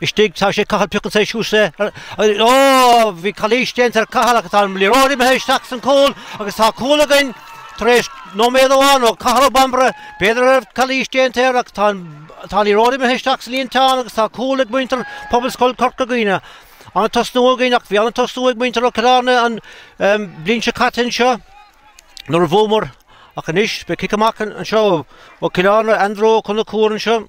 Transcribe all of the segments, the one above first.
istigh, tá sé ag Cathal Piocann sé suas é ar an ó bhí calaois déanta ar Cathal agus tá an liathróid imithe isteach san cúl agus tá cúl againn tar éis nóiméad amháin ó Cathal Ó Bambaire b'fhéidir go raibh calaois déanta air ach tá an tá an liathróid imithe isteach sa líontán agus tá cúl ag muintir Phobalscoil Corca Dhuibhne ana-thosnú againn ach bhí ana-thosnú ag muintir ó Cill Airne an bliain seo caite anseo nuair a bhuamar ach anois beidh cic amach anseo ó Cill Airne Andrew Ó Conchúir anseo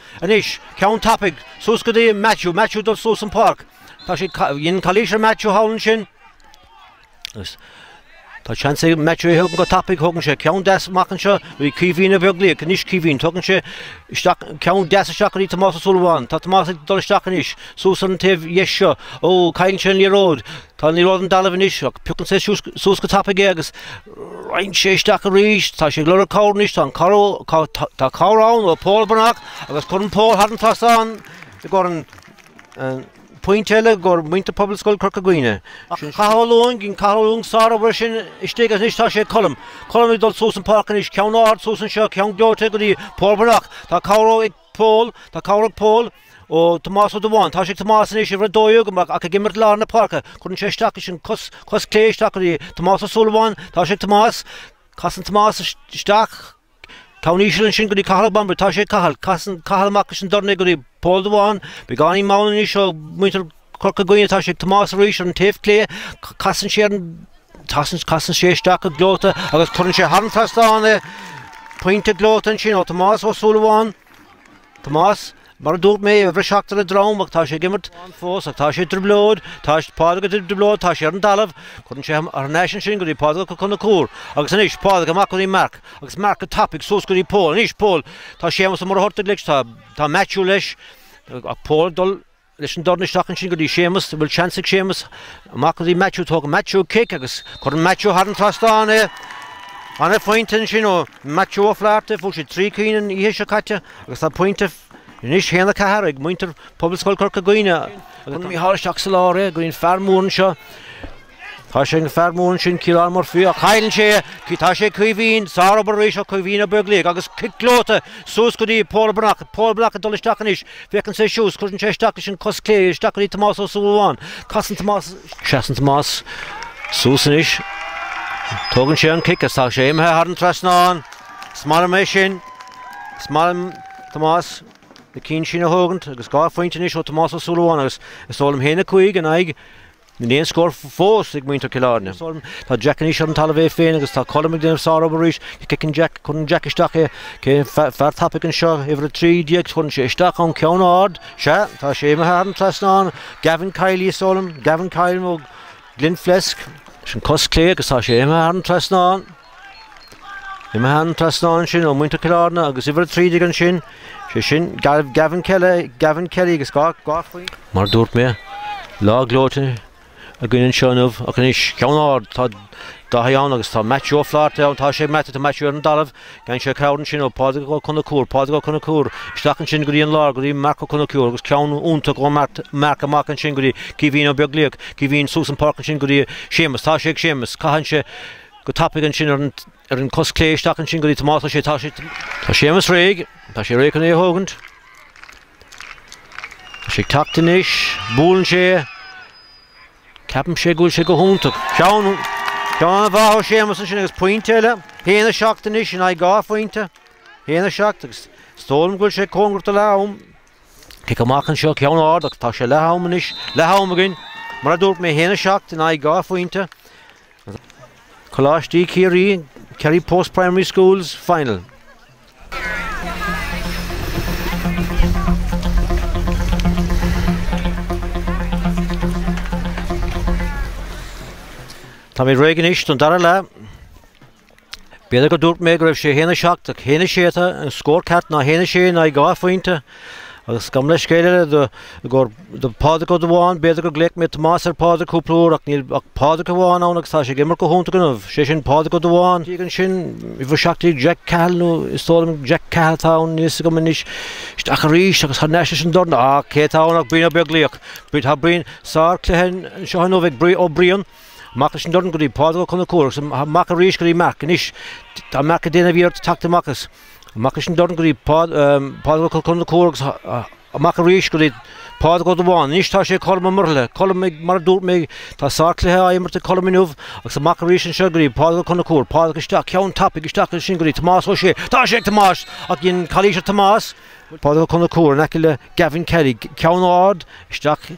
Anois, ceann tapaidh, suas go dtí Maitiú, Maitiú dul suas an páirc. Tá siad ca, dhein calaois ar Maitiú thall ansin. Agus tá seans ag Maitiú é thóg go tapaidh, tugann sé ceann deas amach anseo, go dtí Caoimhín Ó Beaglaoich, anois Caoimhín, tugann sé isteach, ceann deas isteach go dtí Tomás Ó Súilleabháin, tá Tomás ag dul isteach anois, suas ar an taobh dheis seo, ó, cailleann sé an liathróid, tá an liathróid ar an dtalamh anois, ach piocann sé suas go tapaidh é agus, Ritheann sé isteach arís, tá sé ag lorg cabhair anois, tá an tá cabhair ann ó Pól Breathnach agus cuireann Pól thar an trasnán i gcóir an pointe eile i gcóir muintir Phobalscoil Chorca Dhuibhne. Sin Cathal Ó Lúing, dhein Cathal Ó Lúing sár obair ansin istigh agus anois tá sé ag Colm. Colm ag dul suas an páirc anois, ceann ard suas anseo, ceann gleoite go dtí Pól Breathnach, tá cabhair ag, Pól, Tá cabhair ag Pól ó Thomás Ó Dubháin. Tá sé ag Tomás anois uimhir a dó dhéag ach ach ag imirt lár na páirce. Cuireann sé isteach leis an cos cos chlé isteach go dtí Tomás Ó Súilleabháin. Tá sé ag Tomás. Casann Tomás isteach ceann íseal ansin go dtí Cathal Ó Bambaire. Tá sé ag Cathal. Casann Cathal amach leis an dorn é go dtí Pól Dubháin. Beagáinín mall anois ó muintir Corca Dhuibhne ach tá sé ag Tomás arís ar an taobh clé. Casann sé ar an tasann casann sé isteach go gleoite agus cuireann sé thar an trasnán é. Pointe gleoite ansin ó Tomás Ó Súilleabháin. Tomás, mar a dúirt mé, a bhriseadh ar a dhroim ach tá sé ag imirt ann fós ach tá sé i dtrioblóid, tá Pádraig i dtrioblóid, tá sé ar an dtalamh. Cuireann sé thar n-ais ansin go dtí Pádraig Ó Conchúir agus anois Pádraig amach go dtí Marc agus Marc go tapaidh suas go dtí Pól. Anois Pól, tá Séamus Ó Muircheartaigh leis, tá Maitiú leis ach Pól ag dul. leis an dorn isteach ansin go dtí Séamus, bhfuil seans ag Séamus, amach go dtí Matthew, tógann Matthew cic agus cuireann Matthew thar an trasnán é. Ana-phointe ansin ó Matthew Ó Flatharta, fuair sé trí cinn an oíche seo caite agus tá pointe anois haon a ceathair ag muintir Phobalscoil Chorca Dhuibhne. Cuireann Micheál isteach sa lár é, go dtí an fear mór anseo, Tá sé ag fear mór ansin Ciarán Murphy ach chaill sé é. Tá sé ag Caoimhín. Sárobair arís ó Chaoimhín Ó Beaglaoich agus cic gleoite suas go dtí Pól Breathnach. Pól Breathnach ag dul isteach anois. Féachann sé suas cuireann sé isteach leis an cos chlé. Isteach go dtí Tomás Ó Súilleabháin. Casann Tomás. Seasann Tomás suas anois. Tógann sé an cic is tá sé imithe thar an trasnán. Is maith liom é sin. Is maith liom Tomás na cinn sin a thógaint agus dhá phointe anois ó Tomás Ó Súilleabháin agus is dóigh liom haon a 5 in aghaidh Níl aon scór fós ag muintir Chill Airne is dóigh liom. Tá Jack anois ar an talamh é féin agus tá Colm ag déanamh sárobair arís. Cé fheiceann Jack? Cuireann Jack isteach é. Cé an fear tapaidh anseo? Uimhir 13. Cuireann sé isteach ann ceann ard. Sea, tá sé imithe thar an trasnán. Gavin Kiely is dóigh liom. Gavin Kiely ó Glenflesk. Sin cos clé agus tá sé imithe thar an trasnán. Imithe thar an trasnán ansin ó muintir Chill Airne agus uimhir a trí déag ansin, sé sin Gavin Kelly, Gavin Kelly agus dhá chlaí. Mar a dúirt mé, lá gleoite againn anseo inniu, ach anois ceann ard, tá Dáithí ann agus tá Matthew Ó Flaherty ann, tá sé ag Matthew, tá Matthew ar an dtalamh, faigheann sé cabhair ansin ó Phádraig Ó Conacúir, Pádraig Ó Conacúir, isteach ansin go dtí an lár go dtí Marc Ó Conacúir agus ceann iontach ó Marc, Marc amach ansin go dtí Caoimhín Ó Beaglaoich, Caoimhín suas an páirc ansin go dtí Séamus, tá sé ag Séamus, caitheann sé. Go tapaidh ansin ar an ar an cos clé isteach ansin go dtí Tomás tá sé tá sé tá Séamus réidh tá sé réidh chun é a thógaint Tá sé ag teacht anois buaileann sé ceapann sé go bhfuil sé go hiontach ceann ceann an-mhaith ó Séamus ansin agus pointe eile 1 a 7 anois in aghaidh dhá phointe 1 a 7 agus is dóigh liom go bhfuil sé cóngarach do leath am. Cic amach anseo, ceann ard agus tá sé leath am anois, leath am againn, mar a dúirt mé, 1-7 in aghaidh 2 phointe. Coláistí Chiarraí, Kerry Post Primary Schools final. Táimid réidh anois don dara leath. B'fhéidir go dúirt mé go raibh sé 1-7 ach 1-6 atá an scór ceart, ná 1-6 in aghaidh dhá phointe. Agus gabh mo leithscéal eile do i gcomhair do Phádraig Ó Dubháin, b'fhéidir gur glaoch mé Tomás ar Phádraig cúpla uair ach níl ach Pádraig amháin ann agus tá sé ag imirt go hiontach inniu, sé sin Pádraig Ó Dubháin. Diaidh ansin, uimhir 17 Jack Cahill nó is dóigh liom Jack Cahill atá ann, níl fhios agam anois. Isteach arís agus thar n-ais leis an dorn, á cé atá ann ach Brian Ó Beaglaoich. Tá Brian, sár cluiche anseo inniu ag Brian, ó Brian. Amach leis an dorn go dtí Pádraig Ó Conchúir agus amach arís go dtí Marc. Anois tá Marc ag déanamh iarracht teacht amach as. Amach leis an dorn go dtí Pádraig Ó Conchúir agus amach arís go dtí Pádraig Ó Dubháin. Anois tá sé ag Colm Ó Muirthile. Colm, Mar a dúirt mé tá sár cluiche á imirt ag Colm inniu agus amach arís anseo go dtí Pádraig Ó Conchúir. Pádraig isteach, ceann tapaidh isteach ansin go dtí Tomás Ó Sé. Tá sé ag Tomás ach dhein calaois ar Tomás. Pádraig Ó Conchúir in aice le Gavin Kelly. Ceann ard isteach.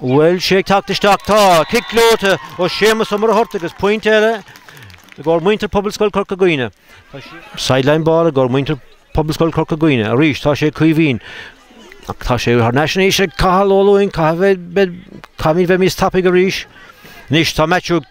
Bhfuil sé ag teacht isteach. Tá! Cic gleoite ó Séamus Ó Muircheartaigh agus pointe eile i gcomhair muintir Phobalscoil Chorca Dhuibhne. Tá sí. Sideline ball i gcomhair muintir Phobalscoil Chorca Dhuibhne arís. Tá sé ag Caoimhín. Ach tá sé thar n-ais anois ag Cathal Ó Luing. Caithfimid bheith níos tapaidh arís. Anois tá Matthew ag.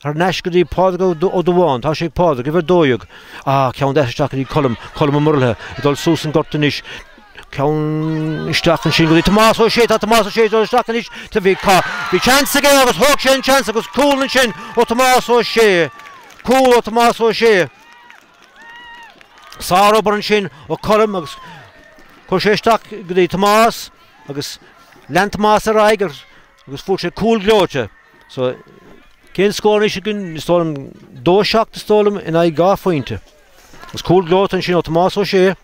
Thar n-ais go dtí Pádraig Ó Dubháin. Tá sé ag Pádraig, uimhir a dó dhéag. Ah, ceann deas isteach go dtí Colm, Colm Ó Muirthile, ag dul suas an gort anois. Ceann isteach ansin go dtí Tomás Ó Sé. Tá Tomás Ó Sé ag dul isteach anois. Bhí seans aige agus thóg sé an seans agus cúl ansin ó Thomás Ó Sé. Cúl ó Thomás Ó Sé. Sárobair ansin ó Colm agus chuir sé isteach go dtí Tomás agus lean Tomás ar aghaidh agus agus fuair sé cúl gleoite. So, cén scór anois againn? Is dóigh liom dó a seacht is dóigh liom in aghaidh dhá phointe. Is cúl gleoite ansin ó Tomás Ó Sé.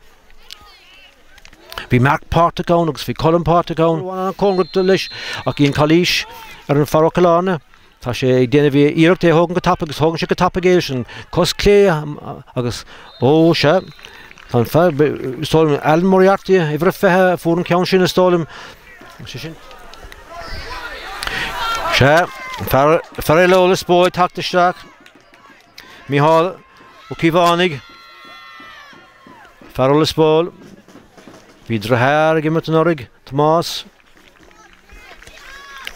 Bhí Marc páirteach ann agus bhí Colm páirteach ann. Bhí an cóngarach leis ach bhí an calaois ar an fear Cill Airne. Tá sé ag déanamh iarracht é a thógaint go tapaidh agus thógann sé go tapaidh é leis an cos clé agus ó sea, tá an fear, is dóigh liom Alan Moriarty, uimhir a fiche, a fuair an ceann sin is dóigh liom. Sea, fear eile ó Lios Póil tagtha isteach, Micheál Ó Caomhánaigh, fear ó Lios Póil. Bhí deartháir ag imirt anuraidh, Tomás.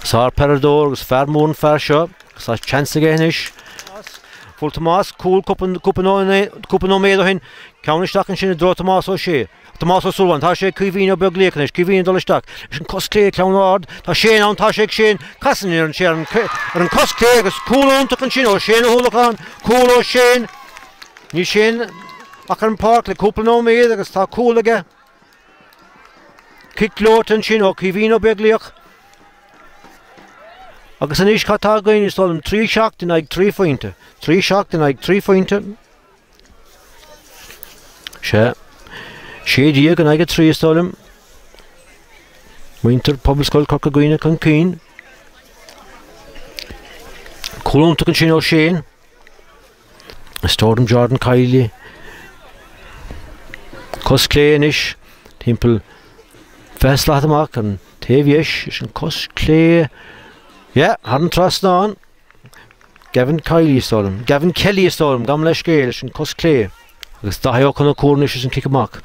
Sár-peileadóir agus fear mór an fear seo, agus tá seans aige anois. Fuair Tomás cúl cúpla nóiméad ó shin, ceann isteach ansin i dtreo Tomás Ó Sé. Tomás Ó Súilleabháin, Tá sé ag Caoimhín Ó Beaglaoich anois, Caoimhín ag dul isteach leis an cos clé, Ceann Ard, Tá Shane ann, Tá sé ag Shane, Casann iarrann sé ar an cos clé agus cúl iontach ansin ó Shane Ó hUallacháin, cúl ó Shane, Níl Shane ach ar an pháirc le cúpla nóiméad agus tá cúl aige, Cic gleoite ansin ó Caoimhín Ó Beaglaoich. Agus anois cad tá againn, is dóigh liom, trí seacht in aghaidh trí phointe, trí seacht in aghaidh trí phointe, Sea. Sé déag in aghaidh a trí is dóigh liom. Muintir Phobalscoil Corca Dhuibhne chun cinn. Cúl iontach ansin ó Shane. Is dóigh liom Jordan Kiely. Cos clé anois timpeall fiche slat amach an taobh dheis leis an cos clé. Yeah, thar an trasnán. Gavin Kiely is dóigh liom. Gavin Kelly is dóigh liom. Gabh mo leithscéal leis an cos clé agus Daithí Ó Conchúir anois leis an cic amach.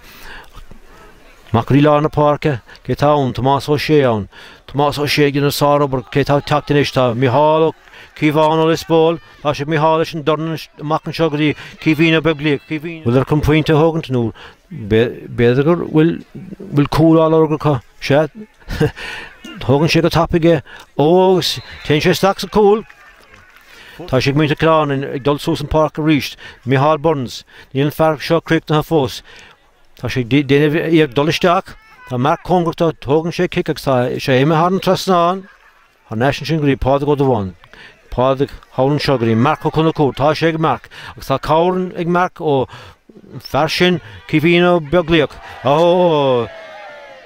Amach go dtí lár na páirce, cé tá ann? Tomás Ó Sé ann. Tomás Ó Sé ag déanamh sárobair, cé tá ag teacht anois? Tá Micheál Ó Cíobháin ó Lios Póil, tá sé ag Micheál leis an dorn amach anseo go dtí Caoimhín Ó Beaglaoich. Caoimhín, bhfuiltear chun pointe a thógaint nó b'fhéidir go bhfuil cúl á lorg acu? Sea, Tógann sé go tapaidh é. Ó agus téann sé isteach sa cúl. Tá sé ag muintir Cill Airne ag dul suas an páirc arís. Micheál Burns, níl an fear seo críochnaithe fós. Tá sé ag déanamh iarracht dul isteach. Tá Marc cóngarach dó. Tógann sé cic agus tá sé imithe thar an trasnán. Thar n-ais ansin go dtí Pádraig Ó Dubháin? Pádraig thall ansin go dtí Marc Ó Conchúir. Tá sé ag Marc agus tá cabhair ag Marc ón fear sin Caoimhín Ó Beaglaoich. Óóóó!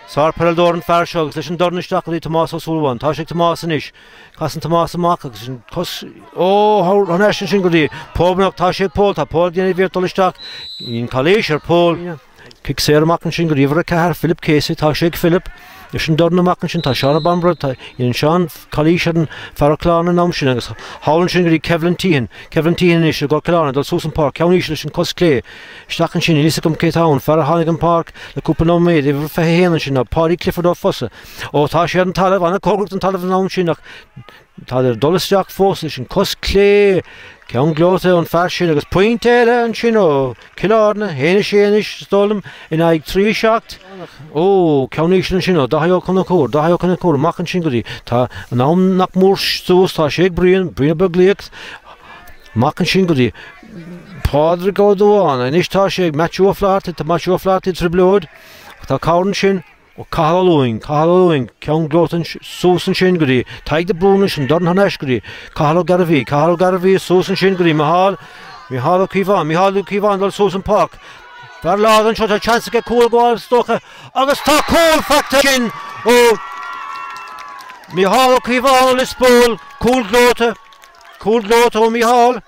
Sár peileadóir an fear seo agus leis an dorn isteach go dtí Tomás Ó Súilleabháin. Tá sé ag Tomás anois. Casann Tomás amach agus sin cos Óóó thar n-ais ansin go dtí Pól Breathnach. Tá sé ag Pól. Tá Pól ag déanamh iarracht dul isteach. Bíonn calaois ar Pól. Cic saor amach ansin go dtí uimhir a 4, Philip Casey, tá sé ag Philip, leis an dorn amach ansin, tá Seáine Bambury, tá, dhéanann Seán calaois ar an fear ó Clár an am sin agus thall ansin go dtí Caoilfhionn Teahan, Caoilfhionn Teahan anois ag dul suas an páirc, ceann íseal leis an cos clé, isteach ansin, níl a fhios agam cé atá ann, fear a tháinig an páirc le cúpla nóiméad, uimhir 21 ansin ná Paudie Clifford ó Fossa, ó tá sé ar an talamh, an-chóngarach don talamh an am sin ach Tá sé ag dul isteach fós leis an cos clé, ceann gleoite ón fear sin agus pointe eile ansin ó Chill Airne, 1 6 anois is dóigh liom in aghaidh 3 7. Óóó, ceann íseal ansin ó Dáithí Ó Conchúir, Dáithí Ó Conchúir amach ansin go dtí, tá an am nach mór suas, tá sé ag Brian, Brian Ó Beaglaoich, amach ansin go dtí Pádraig Ó Dubháin, anois tá sé ag Maitiú Ó Flathartaigh, tá Maitiú Ó Flathartaigh i dtrioblóid ach tá cabhair ansin, ó Cathal Ó Luing, Cathal Ó Luing, ceann gleoite, suas ansin go dtí Tadhg de Brún ansin, dorn thar n-ais go dtí Cathal Ó Gairbhí, Cathal Ó Gairbhí, suas ansin go dtí Micheál, Micheál Ó Cíobháin, Micheál Ó Cíobháin, dul suas an páirc, fear láidir anseo, tá seans aige cúl a fháil is dócha agus tá cúl faighte ansin ó Micheál Ó Cíobháin ó Lios Póil, cúl gleoite, cúl gleoite ó Micheál.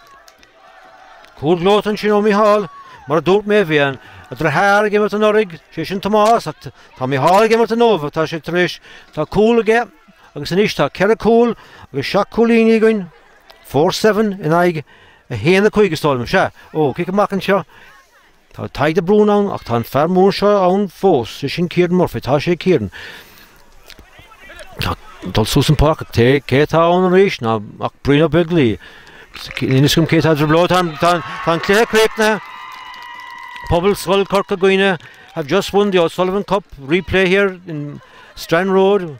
Cúl gleoite ansin ó Micheál, mar a dúirt mé bhí a dheartháir ag imirt anuraidh, sé sin Tomás, ach tá Micheál ag imirt inniu, tá sé tar éis, tá cúl aige agus anois tá ceithre cúil agus seacht cúilíní againn, four seven in aghaidh a haon a cúig is dóigh liom, sea, ó, cic amach anseo, Tá Tadhg de Brún ann ach tá an fear mór seo ann fós, sé sin Ciarán Murphy. Tá sé, Ciarán, ag dul suas an páirc ach cé atá ann arís ná ach Brian Ó Beaglaoich. Inis dom cé atá ag druibleáil. Tá an cluiche críochnaithe. Pobalscoil Chorca Dhuibhne have just won the O'Sullivan Cup. Replay here in Strand Road.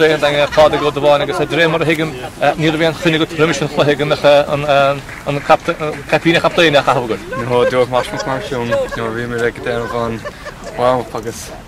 Captaen Daingean Pádraig Ó Dubháin agus de réir mar a thuigim ní raibh aon choinne agat roimis an chluiche go mbeadh an caipín captaein ach a hamhargaidh. Ní hamháin Joe Mhaisle is mar sin nuair a bhí muid ag déanamh an warm up agus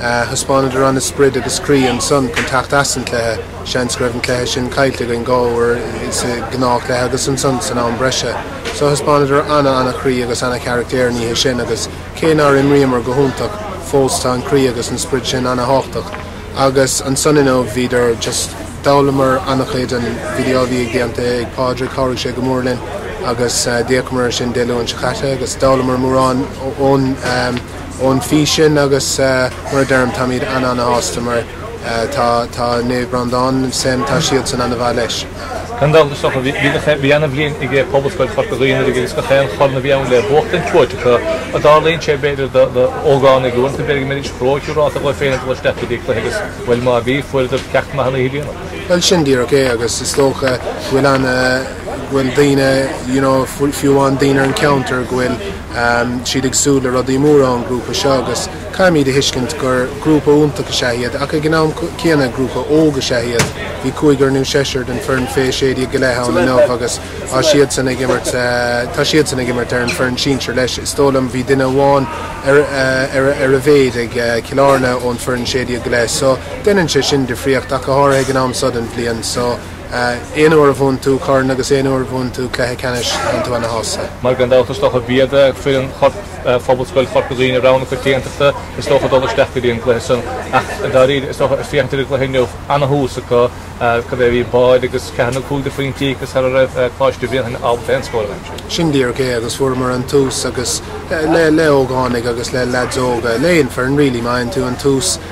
Thaispeánadar an sprid agus croí ansan chun teacht as an chluiche. Seans go raibh an cluiche sin caillte againn dhá uair sa gnáth chluiche agus ansan san am breise. So thaispeánadar ana ana chroí agus ana charactéir an oíche sin agus cé nár imríomar go hiontach fós tá an croí agus an sprid sin ana tháchtach. Agus ansan inniu bhíodar just d'fhoghlamar ana chuid ón video a bhí déanta ag Pádraig chabhraigh sé go mór linn agus d'fhéachamar ar sin Dé Luain seo chaite agus d'fhoghlamar mórán ón ón video sin agus mar a deirim táimid an-an-shásta mar tá tá Naomh Breandán sinn, tá siadsan an-mhaith leis. Cén dul isteach a bhí agat a bhí ana bhliain ag Pobalscoil Chorca Dhuibhne anuraidh agus gach aon chorn a bhí ann le buachtaint buaite acu ach tarlaíonn sé b'fhéidir do do ógánaigh uaireanta b'fhéidir go mbeidís róshiúráilte dhóibh féin ag dul isteach go dtí cluiche agus bhuel má bhí fuaireadar ceacht maith an oíche déanach. Bhuel sin díreach é agus is dócha go bhfuil ana go bhfuil daoine you know fiú amháin daoine ar an cheantar go bhfuil siad ag súil le rudaí móra ón grúpa seo agus caithfimid a thuiscint gur grúpa iontach is ea iad ach ag an am céanna grúpa óg is ea iad. Bhí cúigear nó seisear den foireann Fé 16 go leith ann inniu agus tá siadsan ag imirt tá siadsan ag imirt ar an foireann sinsir leis. Is dóigh liom bhí duine amháin ar ar a mhéid ag Cill Airne ón foireann 16 go leith so deineann sé sin difríocht ach go háirithe ag an am so den bhliain so Aon uair a bhuann tú corn agus aon uair a bhuann tú cluiche ceannais bíonn tú ana shásta. Mar gan dabht is dócha b'iad foireann Phobalscoil Chorca Dhuibhne rogha na coitiantachta is dócha dul isteach go dtí an gcluiche san ach dáiríre is dócha is féachaint ar an gcluiche inniu ana thús acu cad é a bhí báide agus ceathair nó cúig de phointí agus sara raibh Coláiste Bhréanainn ábalta aon scór a bheith aimsithe. Sin díreach é agus fuaireamar an tús agus le le ógánaigh agus le leaids óga, le aon foireann really, má fhaigheann tú an tús,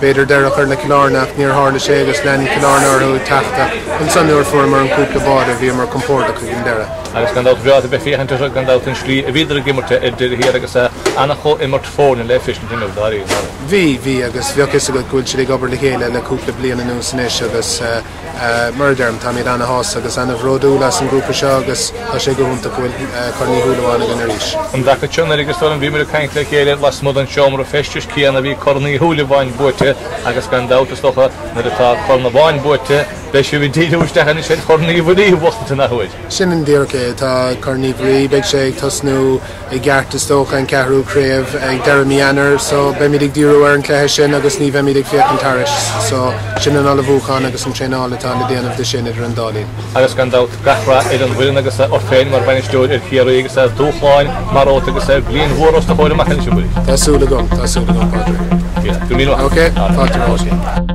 B'fhéidir deireadh a chur le Cill Airne ach níor tharla sé agus lean Cill Airne orthu ag teacht ach ansan nuair a fuaireamar an cúpla báide bhíomar compordach ag an deireadh. Agus gan dabht bhreá a bheith féachaint orthu gan dabht an slí a bhíodar ag imirt ar deireadh thiar agus ana chomhimirt foirne le feiscint inniu dáiríre. Bhí, bhí agus bheadh fhios agat go bhfuil siad ag obair le chéile le cúpla bliain anuas anois agus. Mar a deirim, táimid ana-shásta agus ana-bhródúil as an ghrúpa seo agus tá sé go hiontach go bhfuil Corn Uí Shúilleabháin againn arís. An taca seo anuraidh a Éamoinn bhíomar ag caint le chéile lasmuigh den seomra feistis céanna bhí Corn Uí Shúilleabháin buaite agus gan dabht, is dócha, nuair atá corn amháin buaite, beidh sibh ag díriú isteach anois ar Chorn Uí Mhuirí a bhuachtaint an athuair. Sin díreach é. Tá Corn Uí Mhuirí, beidh sé ag tosnú, i gceart is dócha, an ceathrú craobh ag deireadh mí Eanáir so beimid ag díriú ar an chluiche sin agus ní bheimid ag féachaint thairis. So, sin an ullmhúchán agus an traenáil atá le déanamh dó sin idir an dá linn. Agus gan dabht, gach rath ar an bhfoireann agus ort féin mar bhainisteoir ar Chiarraí agus ar dhúshláin mhóra atá agus ar bhliain mhór os do chomhair amach anois a Mharie. Tá súil agam, tá súil agam Pádraig. Go raibh míle maith agat. Ok, fáilte romhat.